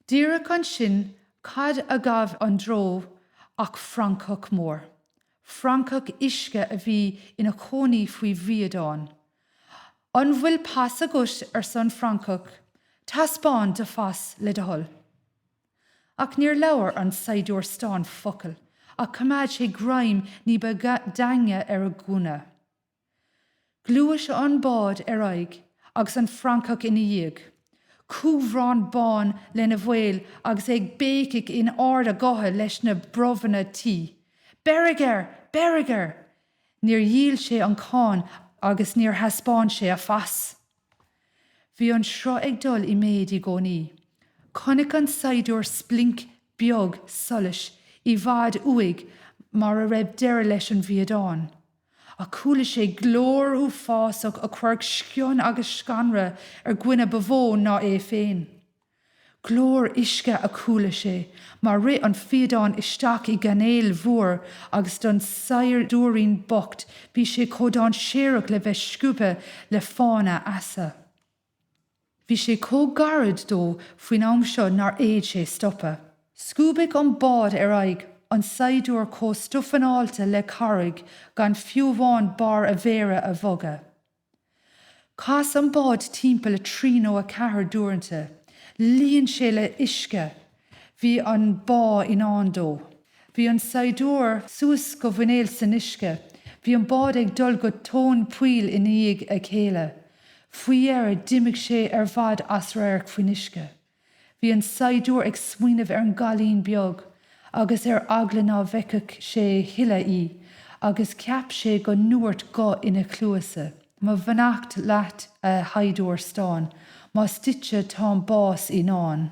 Díreach ansin cad a ghabh an dreo ach francach mór. Francach uisce a bhí ina chónaí faoi bhfiadán. An bhfuil pas agat? arsa an francach. Taispeáin do phas, le do thoil. Ach níor labhair an saighdiúir stáin focal ach choimeád sé greim ní ba daingne ar a ghunna. Ghluais an bád ar aghaidh agus an francach ina dhiaidh, cúbhrán bán lena bhéal agus é ag béicigh in ard a ghutha leis na brobhanna tuí, Beirigh air! Beirigh air! Níor dhíol sé an cáin agus níor thaispeáin sé a phas. Bhí an sruth ag dul i méid i gcónaí. Chonaic an saighdiúir splinc beag solais i bhfad uaidh mar a raibh deireadh leis an bhfiadán. Ach chuala sé glór uafásach a chuirfeadh sceon agus scanradh ar dhuine ba mhó ná é féin. Glór uisce a chuala sé mar rith an fiadán isteach i gcainéal mhór agus don saighdiúirín bocht bhí sé chomh dáinséarach le bheith scuabtha le fána easa. Bhí sé chomh gairid dó faoin am seo nár fhéad sé stopadh. Scuabadh an bád ar aghaidh, an saighdiúir chomh stuifeanáilte le carraig gan fiú amháin barr a mhéire a bhogadh. Chas an bád timpeall a trí nó a ceathair d'uaireanta. Líon sé le huisce. Bhí an bá i ndán dó. Bhí an saighdiúir suas go muineál san uisce. Bhí an bád ag dul go tóin poill ina dhiaidh a chéile. Faoi dheireadh d'imigh sé ar fad as radharc faoin uisce. Bhí an saighdiúir ag smaoineamh ar an gcailín beag agus ar eagla ná bhfeicfeadh sé a thuilleadh í agus cheap sé go ndúirt guth ina chluasa. Mo bheannacht leat a shaighdiúir stáin, más duitse tá'n bás i ndán.